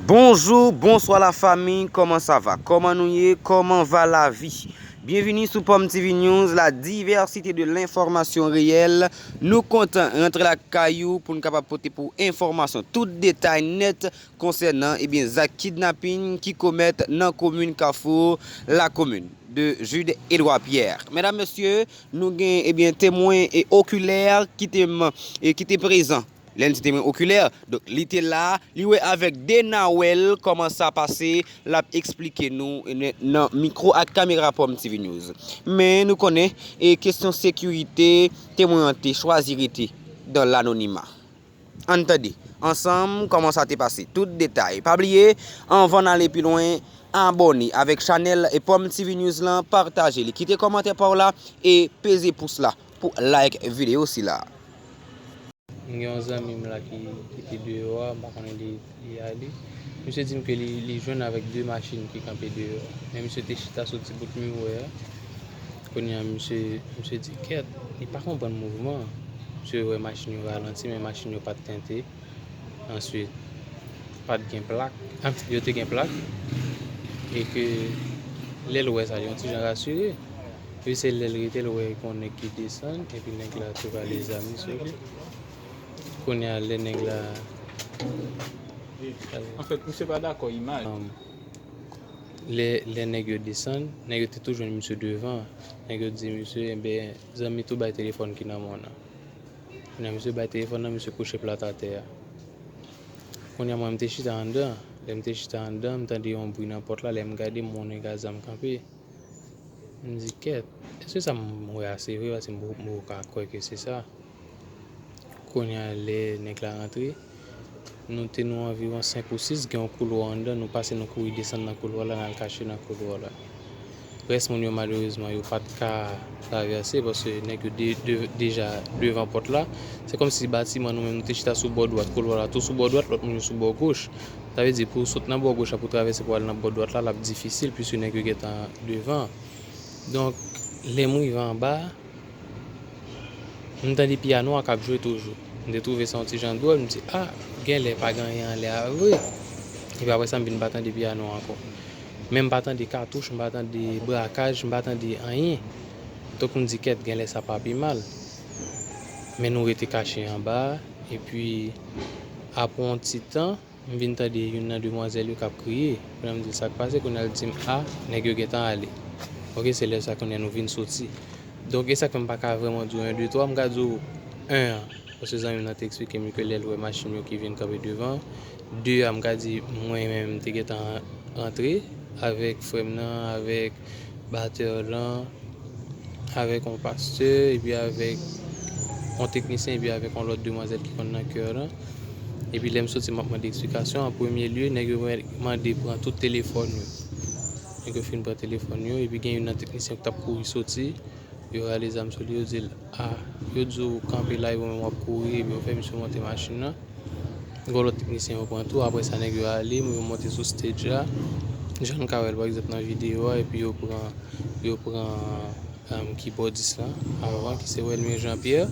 Bonjou bonswa la fami kòman sa va kòman nou ye kòman va la vi byenvini sou pòm TV news la divèsite de lenfòmasyon reyèl nou kontan rantre la kay ou pou nou kapab pote pou enfòmasyon tout detay nèt konsènan ebyen eh zak kidnapin ki komèt nan komin kafou la komin de Jude Edouard Pierre medam mesye nou gen ebyen temwen e okilè ki te man e ki te prezan. Lens te mwen okilè, donk li te la, li wè avèk 2 nawèl kòman sa pase, l ap esplike nou nan mikwo ak kamera PromTV News. Men nou konnen, e kesyon sekirite, temwen an te chwazi rete dan lanonima. Ann tande, ansanm, kòman sa te pase. Tout detay. Pa bliye, anvan n ale pi lwen, abòne avèk chanèl PromTV News lan, pataje li, kite kòmantè pa w la, e peze pous la. pou like video sila. M gen yon zanmi m la ki te deyò a, m pa konnen li ale. Misye di m ke li jwenn avèk 2 machin ki kanpe deyò a. Men misye te chita sou ti bout miwè a. Kounye a misye di kèt, li pa konprann mouvman an. Misye wè machin yo ralanti men machin yo pa t tente. Answit, pat gen plak, yo te gen plak, e ke lè l wè sa, yon ti jan rasire. Epi se lè l rete l wè gon nèg ki desann, epi nèg la te bali zam li sou li. Kounye a lè nèg la. An fèt, misye pa dakò imaj la. Lè nèg yo desann, nèg yo te tou jwenn misye devan. Nèg yo di misye, enben, zanmi tou bay telefòn ki nan men w nan. Kounye a misye bay telefòn nan, misye kouche plat atè a. Kounye a mwen m te chita anndan, lè m te chita anndan m tande yon bri nan pòt la, lè m gade m wè yon nèg a zam kanpe. M di kèt, èske sa m wè a se vre paske m poko ka kwè ke se sa. Kounye a lè nèg la rantre. Nou te nou anviwon senk ou sis, gen yon koulwa anndan, nou pase nou kouri desann nan koulwa la, n al kache nan koulwa la. Rès moun yo malerezman yo pa t ka travèse paske nèg yo deja devan pòt la. Se kòm si batiman nou menm nou te chita sou bò dwat, koulwa la tou sou bò dwat, lòt moun yo sou bò goch. Sa vle di pou w sot nan bò goch la pou w travèse pou w al nan bò dwat la, l ap difisil piske nèg yo gentan devan. Donk lè m rive anba. M tande piyano a k ap jwe toujou. M te twouve sa yon ti jan dwòl, m di, a, gen lè pa gen anyen anlè a vre. Epi apre sa, m vin pa tande piyano a ankò. Men m pa tande katouch, m pa tande brakaj, m pa tande anyen. Donk m di, kèt, gen lè sa pa pi mal. Men nou rete kache anba a. Epi apre yon ti tan. M vin tande youn nan demwazèl yo k ap kriye. Kounye a m di l, Sa k pase? Kounye a l di m, A, nèg yo gentan ale. Ok, se lè sa kounye a nou vin soti. Donk, e sa k fè m pa ka vrèman di w en, de, twa. M ka di w, en an, paske zanmi m nan te eksplike m ke lè l wè machin yo ki vin kanpe devan. De a, m ka di mwen menm m te gentan rantre avèk frè m nan, avèk. batteur lan avèk yon pastè epi avèk yon teknisyen epi avèk yon lòt demwazèl ki konn nan kè lan epi lèm soti map mande eksplikasyon an premye lye nèg yo mande pran tout telefòn yo nèg yo fin pran telefòn yo epi gen youn nan teknisyen ki tap kouri soti yo rale zam sou li yo dil. Ah yo di w kanpe la epi w menm wap kouri epi yo fè misye monte machin nan gen yon lòt teknisyen yo pran tou aprè sa nèg yo ale yo monte sou stage la jan n ka wè l pa egzanp nan videyo a epi yo pran yo pran kibòdis lan avan ki se Welmie Jean Pierre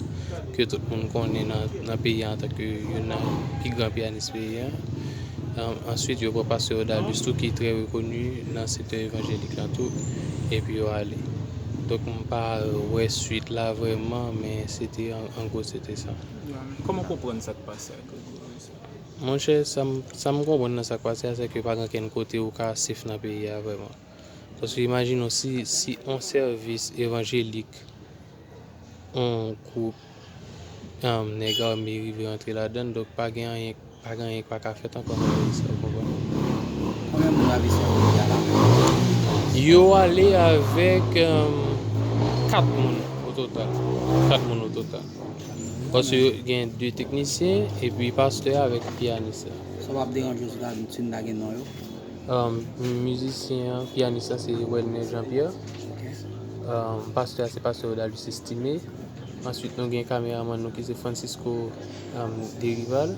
ke tout moun konnen nan peyi a antanke youn nan pi gran piyanis peyi a answit yo pran pastè Odalis tou ki trè rekoni nan sektè evanjelik la tou epi yo ale. Pa wè suite la vreman men se te an gwo se te sa. Koman w konprann sa k pase a Gregory sa? Monchè sa m konprann nan sa k pase a se ke pa gen okenn kote ou ka sef nan peyi a vreman. Paske imajine w si yon sèvis evanjelik yon gwoup. Nèg ame rive rantre ladann, donk pa gen anyen, pa gen anyen k pa ka fèt ankò nan peyi sa a, ou konprann? Konbyen moun Ravizyon te voye a Lapolis? Yo ale avèk 4 moun ototal. 4 moun ototal. Paske gen 2 teknisyen, epi pastè a avèk pyanis la. Sa pa ap deranje w si ta di timoun nan gen non yo? Mizisyen an, pyanis la se Welner Jean Pierre. Pastè a se pastè Odalis Estimé. Answit nou gen kameraman nou ki se Francisco Derival.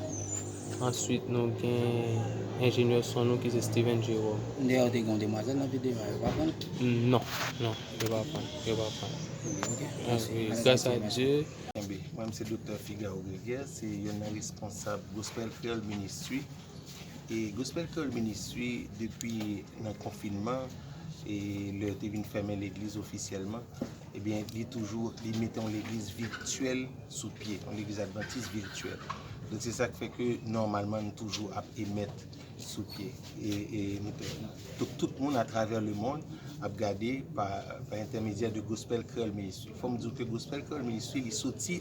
Answit nou gen enjenyè son nou ki se Steven Jerome. Deyè yo te gen yon demwazèl nan videyo a, yo pa pran l? Non, non, yo pa pran l, yo pa pran l. Ok, mèsi. Gras a Dye. Kenbe. Mwen se Doktè Figaro Greger, se youn nan responsab Gospel Creole Ministry. E Gospel Creole Ministry depi nan konfinman e lè yo te vin fèmen legliz ofisyèlman, Ebyen li toujou li mete yon legliz virtuel sou pye, yon legliz adventiste virtuel. Donk se sak fè ke nòmalman nou toujou ap emèt sou pye. E nou te Donk tout moun a travè le mond ap gade pa entèmedyè de Gospel Creole Ministry. Fòm diw ke Gospel Creole Ministry li soti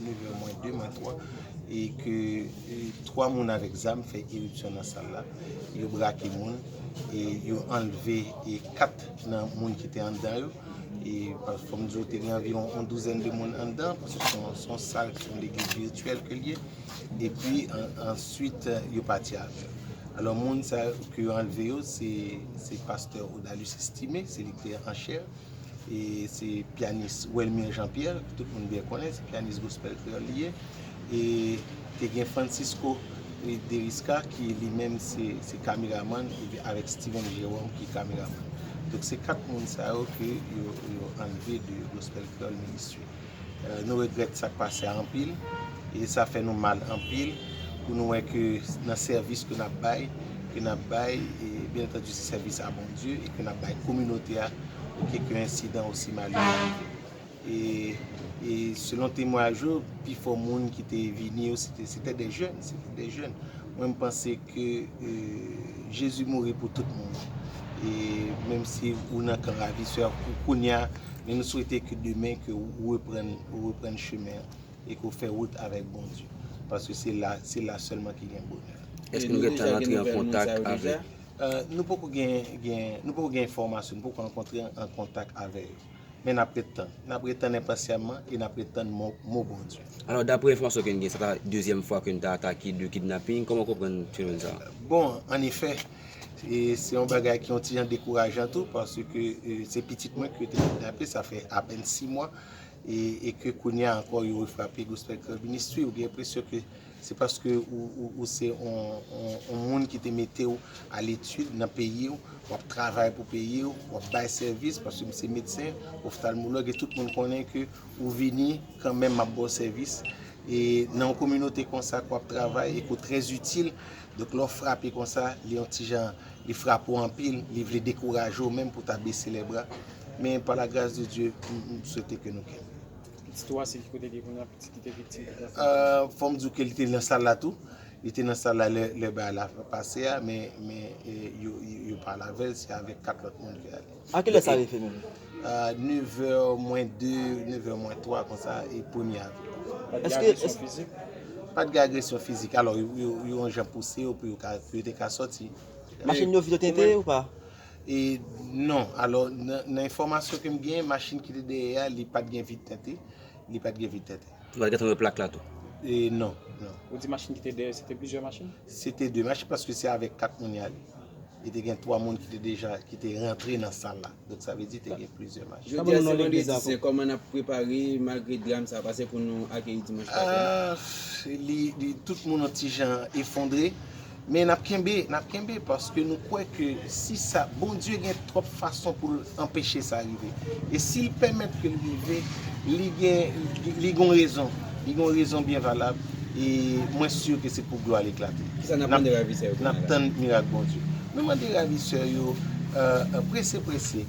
9 è mwen 2, mwen 3, e ke 3 moun avèk zam fè iripsyon nan sal la, yo brake moun, e yo anlve 4 nan moun ki te anndan yo, e fò m di w te gen anviwon yon douzèn de moun anndan, paske se yon sal ki se yon legliz virityèl ke l ye, e pi answit yo pati avè yo. Alò moun sa yo ke yo anlve yo, se pastè Odalus Estimé, se li ki te anchè. E se pyanis Welmir Jean Pierre, ke tout moun byen konnen, se pyanis gospel kreyòl li ye. E te gen Francisco Derisca ki li menm se kameramann avèk Steven Jerome ki kameramann. Donk se 4 moun sa yo ke yo anlve de Gospel Kreyòl Ministry. Nou regrèt sa k pase a anpil e sa fè nou mal anpil pou nou wè ke nan sèvis ke n ap bay, ke n ap bay e byen antandi se sèvis a Bondye e ke n ap bay kominote a ke yon ensidan osi malere rive. E selon temwayaj yo, pi fò moun ki te vini yo se te de jèn, se te de jèn. Mwen m panse ke Jezi mouri pou tout moun e menm si ou nan kan ravisè pou kounya Men nou swete ke demen ke ou reprann, ou reprann chemen an e ke ou fè wout avèk Bondye. Paske se la, se la sèlman ki gen bonè. Èske nou gentan rantre an kontak avèk. Nou poko gen, gen, nou poko gen enfòmasyon, nou poko rankontre an kontak avè yo. Men n ap ret tann. N ap ret tann enpasyalman e n ap ret tann mo, mo Bondye. Alò, daprè enfòmasyon ke n gen, sa ta dezyèm fwa ke n ta atake de kidnaping. Kòman w konprann fenomèn sa a? Bon, an efè. E se yon bagay ki yon ti jan dekourajan tou paske se pitit mwen ki yo te kidnape sa fè apèn 6 mwa e ke kounye a ankò yo refrape Gospel Club Ministry ou gen enpresyon ke se paske ou se yon moun ki te mete ou a letid nan peyi ou, w ap travay pou peyi ou, w ap bay sèvis paske m se medsen, oftalmològ e tout moun konnen ke ou vini kanmenm ap ba w sèvis e nan yon kominote konsa ke w ap travay e ke w trè zitil. Donk lè w frape konsa, li yon ti jan, li frape w anpil, li vle dekouraje w menm pou w ta bese lè bra. Men pa la gras de Dye, m swete ke nou kenbe. Pitit ou a, se ki kote li ye kounye a, pitit ki te viktim ki te nan sal la? Fò m di w ke li te nan sal la tou. Li te nan sal la lè bagay la pase a, men yo pa la avè l, se avèk 4 lòt moun li al. A kilè sa rive menm? A 9 vè mwen 2, 9 vè mwen 3 konsa e premye avril la fèt. Pat gen agresyon fizik? Pat gen agresyon fizik. Alò yo yon jan pouse yo pou yo te ka sòti. Machin yo vide tenten ou pa? E non. Alò nan enfòmasyon ke m gen, machin ki te dèyè a li pat gen vit tenten. Li pat gen vit tenten. Ou pat gentan wè plak la tou? E non. Ou di machin ki te dèyè se te plizyè machin? Se te de mach paske se avèk 4 moun y ale. E te gen 3 moun ki te deja ki te rantre nan sal la. Donk sa vle di te gen plizyè mach. Jodi a se vandredi sen kòman nap prepare malgre dram sa pase pou nou akeyi dimanch pase la? Ahh li tout moun yon ti jan efondre men nap kenbe nap kenbe paske nou kwè ke si sa Bondye gen twòp fason poul anpeche sa rive. E si l pèmèt ke l rive, li gen, li gen yon rezon. Li gen yon rezon byen valab e mwen si ke se pou glwa l eklate. Kisa n ap mande ravisè yo kounye a la? N ap tann mirak Bondye. Nou mande ravisè yo, prese prese,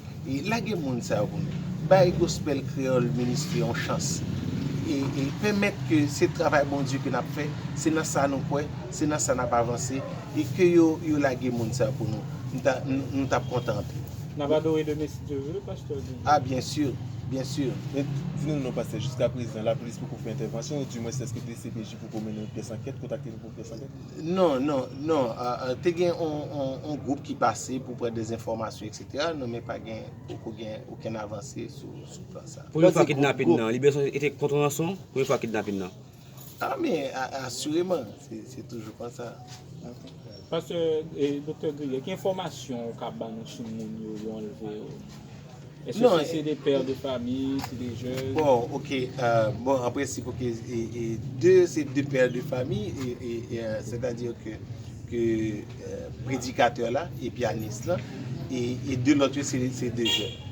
lage moun sa yo pou nou. Bay Gospel Creole Ministry yon chans. E pèmèt ke se travay Bondye ke n ap fè, se nan sa nou kwè, se nan sa n ap avanse e ke yo lage moun sa yo pou nou. Nou ta, nou t ap kontan anpil. Nap adore le Messi Dieu veut Pasteur Guy. Ah bien sûr, bien sûr. Men, di nou non pastè, jiska prezan, lapolis poko fè entèvansyon, ou di mwens eske dcpj poko mennen yon pyès ankèt, kontakte nou pou yon pyès ankèt? Non, non, non, te gen yon gwoup ki pase pou pran dè enfòmasyon etc, non men pa gen, poko gen okenn avanse sou plan sa. Pou yon fwa kidnapin nan, li bezwen, li te kont ranson, pou yon fwa kidnapin nan. A men asireman, se toujou konsa. Pastè e Doktè Gregory, ki enfòmasyon ou ka ban nou sou moun yo yo anlve yo? Eske se se de père de famille, se de jeunes? Bon, ok, bon an prensip ok, e de se de père de famille, e sètadi ke. predikatè la e pyanis lan e 2 lòt yo se 2 jèn.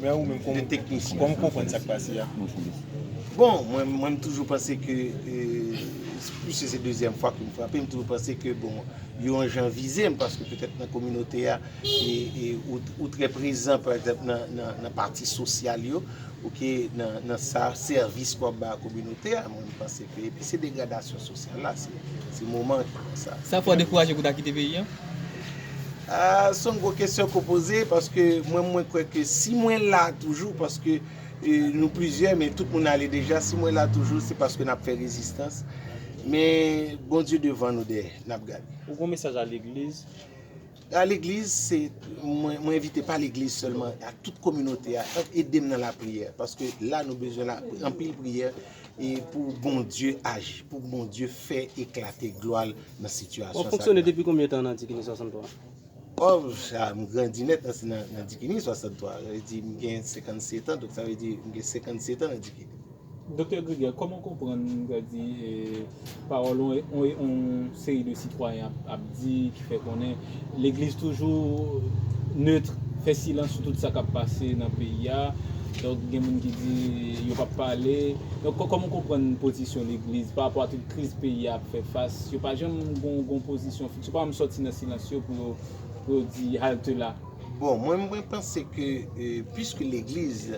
Men ou menm kòman ou konprann sa k pase a? Bon, mwen m toujou panse ke, pwiske se dezyèm fwa ke m frape, m toujou panse ke bon, yo yon jan vize m paske petèt nan kominote a e ou trè prezan pa egzanp nan pati sosyal yo, ok, nan sa sèvis ke w ap bay a kominote a. Panse ke epi se degradasyon sosyal la se ti moman ki konsa. Sa fè w dekouraje pou ta kite peyi an? Ahh se yon gwo kesyon ke w poze paske mwen mwen kwè ke si mwen la toujou paske nou plizyè men tout moun ale deja si mwen la toujou se paske n ap fè rezistans men Bondye devan nou dèyè n ap gade. Ou gen yon mesaj a legliz? A legliz se mwen envite pa legliz sèlman a tout kominote a edem nan la priyè paske la nou bezwen la anpil priyè e pou Bondye aji pou Bondye fè eklate glwa l nan sitiyasyon sa. Wap fonksyone depi konbyen tan nan Dikini 63? Oh sa m grandi nèt nan Dikini 63 sa vle di m gen 57 an donk sa vle di m gen 57 an nan Dikini. Doktè Greger, kòman w konprann, m ta di, pawòl yon seri de sitwayen ap di, ki fè konnen legliz toujou neutre, fè silans sou tout sa k ap pase nan peyi a, donk gen moun ki di yo p ap pale, donk kòman w konprann pozisyon legliz pa rapò a tout kriz peyi a ap fè fas, yo pa janm gen yon pozisyon fiks, yo pa janm sòti nan silans yo pou yo di halte la? Bon, mwen, mwen panse ke, piske legliz.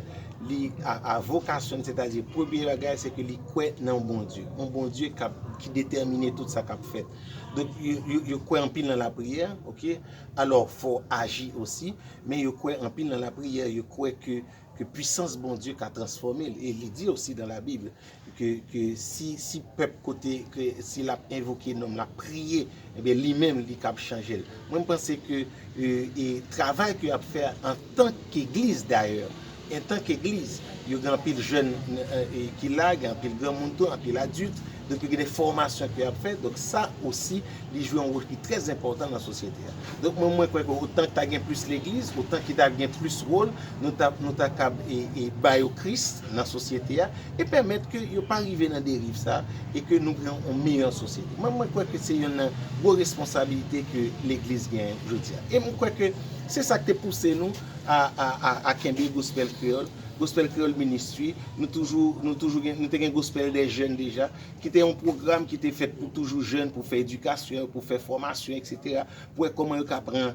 Li a vokasyon li, sètadi premye bagay se ke li kwè nan yon Bondye. Yon Bondye kap, ki detèmine tout sa kap fèt. Donk yo kwè anpil nan lapriyè, ok. Alò fò w aji osi, men yo kwè anpil nan lapriyè, yo kwè ke ke pwisans Bondye ka transfòme l. E li di osi dan la Bib, Ke si pèp kote ke si l ap envoke non m l ap priye ebyen li menm li kab chanje l. Mwen m panse ke e travay ke y ap fè a antan k egliz dayè antan k egliz yo gen anpil jèn ki la gen anpil granmoun tou anpil adilt donk gen de fòmasyon ke y ap fè donk sa osi li jwe yon wòl ki trè enpòtan nan sosyete a. Donk mwen mwen kwè ke otan ta gen plis legliz otan ki ta gen plis wòl nou ta nou ta kab e e ba yo kris. nan sosyete a e pèmèt ke yo pa rive nan deriv sa e ke nou gen yon meyè sosyete. Mwen mwen kwè ke se yonn nan gwo responsabilite ke legliz gen jodi a. E mwen kwè ke se sa ki te pouse nou a a a kenbe Gospel Kreyòl, Gospel Kreyòl Ministry, nou toujou nou toujou gen nou te gen Gospel des Jeunes deja ki te yon pwogram ki te fèt pou toujou jèn pou fè edikasyon yo, pou fè fòmasyon eksetera pou wè kòman yo ka pran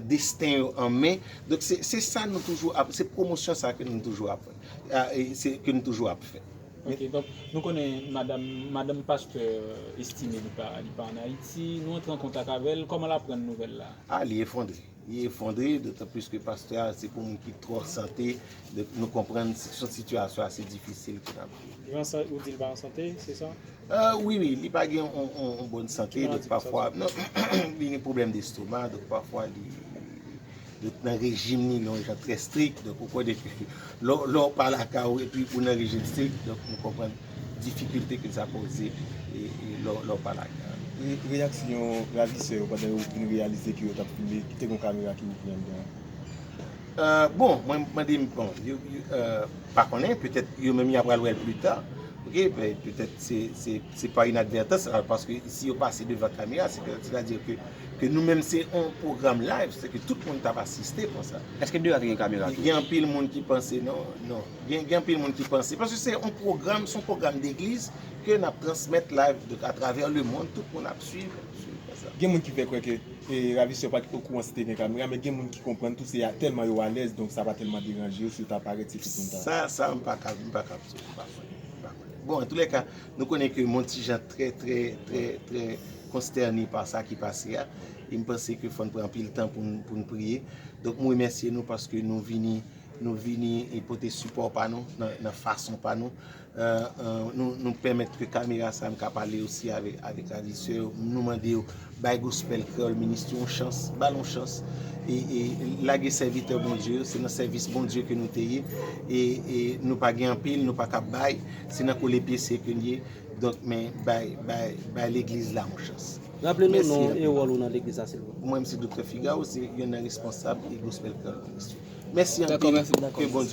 desten yo an men, donk se sa nou toujou ap, se pwomosyon sa ke nou toujou ap fè, ke nou toujou ap fè. Ok, donk nou konnen madam, madanm pastè Estime li pa, li pa an Ayiti, nou antre an kontak avèl, kòman lap pran nouvèl la? Ah li efondre, li efondre, dotan plis ke pastè a se pou moun ki twò sante, donk nou konprann son sitiyasyon ase difisil ke lap viv. Li pa an sante, ou di li pa an sante, se sa? Ahh wi wi li pa gen yon bòn sante donk pafwa li gen pwoblèm destoma donk pafwa li nan rejim li nan yon jan trè strik donk ou konnen ke lè w pa lakay ou epi ou nan rejim strik donk nou konprann difikilte ke sa poze lè w pa lakay ou. Reyaksyon ravisè yo pandan yo vin reyalize ke yo t ap filme, te gen yon kamera ki ouvri anndan. Bon mwen mande bon yo pa konnen petèt yo menm ya pral wèl pli ta ok petèt se pa inadvètans paske si yo pase devan kamera se petèt sèta di ke nou menm se yon pwogram live se ke tout moun tap asiste konsa eske deyò a te gen kamera tou gen anpil moun ki panse non non gen anpil moun ki panse paske se yon pwogram se yon pwogram degliz ke nap transmèt live atravè le mond tout moun ap swiv. Gen moun ki fè kwè ke ravisè yo pa t okouran si te gen kamera, men gen moun ki konprann tou se tèlman yo alèz donk sa pa tèlman deranje yo si yo ta parèt se tout moun ta. Sa, sa m pa ka, m pa ka vle, m pa konnen, m pa konnen. Bon, antoulèka, nou konnen ke m on ti jan trè, trè, trè, trè konstène pa sa ki pase a, e m panse ke fò n pran anpil tan pou n, pou n priye. Donk m remèsye nou paske nou vini, nou vini pote sipò pa nou nan fason pa nou. Nou pèmèt ke kamera sa m ka pale osi avèk ravisseur yo. Nou mande yo bay Gospel Kreyol Ministry yon chans, ba l yon chans. E lage sèvitè Bondye yo, se nan sèvis Bondye ke nou te ye. E nou pa gen anpil, nou pa ka bay, se nan kole pye se ke n ye. Donk men bay, bay, bay legliz la yon chans. Raple nou non w e wòl ou nan legliz la silvouplè. Mwen m se Doktè Figaro, se youn nan responsab Gospel Kreyol Ministry. Mèsi anpil, ke Bondye.